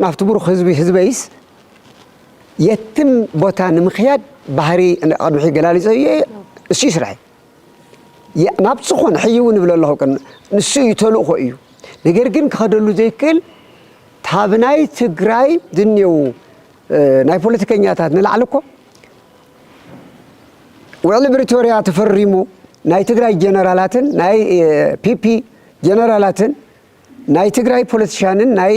ናብቲ ብሩኽ ህዝቢ ህዝበይስ የትም ቦታ ንምክያድ ባህሪ ቅድሚ ሕይ ገላሊጸ እየ እሱ እዩ ስራሐይ ናብ ዝኾነ ሕይ እውን እብለ ኣለኹ ንሱ እዩ ተልእኾ እዩ ነገር ግን ክኸደሉ ዘይክእል ካብ ናይ ትግራይ ዝኔው ናይ ፖለቲከኛታት ንላዕሊ እኮ ውዕሊ ብሪቶርያ ተፈሪሙ ናይ ትግራይ ጀነራላትን ናይ ፒፒ ጀነራላትን ናይ ትግራይ ፖለቲሻንን ናይ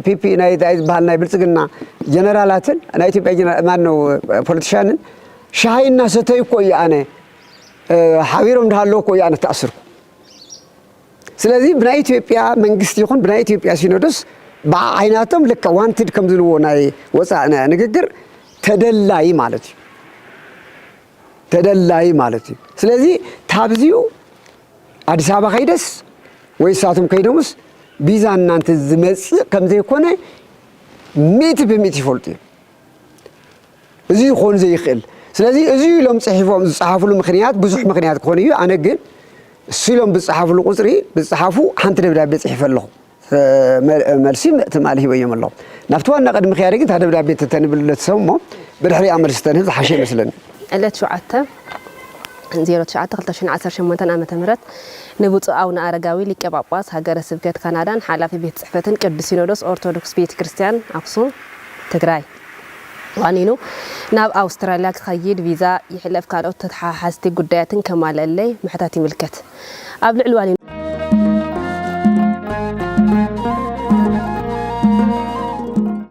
ፒፒ ናይ ታይ ዝበሃል ናይ ብልጽግና ጀነራላትን ናይ ኢትዮጵያ ጀነራል ማን ነው ፖለቲሻንን ሻሂ እናሰተዩ እኮ እዩ ኣነ ሓቢሮም እንዳሃለዉ እኮ እዩ ኣነ ተኣስርኩ። ስለዚ ብናይ ኢትዮጵያ መንግስቲ ይኹን ብናይ ኢትዮጵያ ሲኖዶስ ብዓ ዓይናቶም ልክዕ ዋንትድ ከም ዝልዎ ናይ ወፃእ ንግግር ተደላዪ ማለት እዩ። ተደላዪ ማለት እዩ። ስለዚ ታብዚኡ ኣዲስ ኣበባ ከይደስ ወይ እሳቶም ከይዶምስ ቢዛ እናንተ ዝመፅእ ከምዘይኮነ ሚእቲ ብሚእቲ ይፈልጡ እዮም። እዚ ይኾን ዘይኽእል ስለዚ እዚ ኢሎም ፅሒፎም ዝፀሓፍሉ ምክንያት ብዙሕ ምክንያት ክኾን እዩ ኣነ ግን እሱ ኢሎም ብዝፀሓፍሉ ቁፅሪ ብዝፀሓፉ ሓንቲ ደብዳቤ ፅሒፈ ኣለኹ መልሲ ትማሊ ሂበዮም ኣሎ ናብቲ ዋና ቅድሚ ምክያደይ ግን እታ ደብዳቤ ተተንብሉ ነቲ ሰብ እሞ ብድሕሪኣ መልሲ ተንህብ ዝሓሸ ይመስለኒ ዕለት ሸውዓተ ዜሮ ትሽዓተ ክልተ ሽሕን ዓሰርተ ሸሞንተን ዓመተ ምህረት ንብፁዕ ኣቡነ ኣረጋዊ ሊቀ ጳጳስ ሃገረ ስብከት ካናዳን ሓላፊ ቤት ጽሕፈትን ቅዱስ ሲኖዶስ ኦርቶዶክስ ቤተ ክርስቲያን ኣክሱም ትግራይ ዋኒኑ ናብ ኣውስትራልያ ክኸይድ ቪዛ ይሕለፍ ካልኦት ተተሓሓዝቲ ጉዳያትን ከማልእለይ ምሕታት ይምልከት ኣብ ልዕሊ ዋኒኑ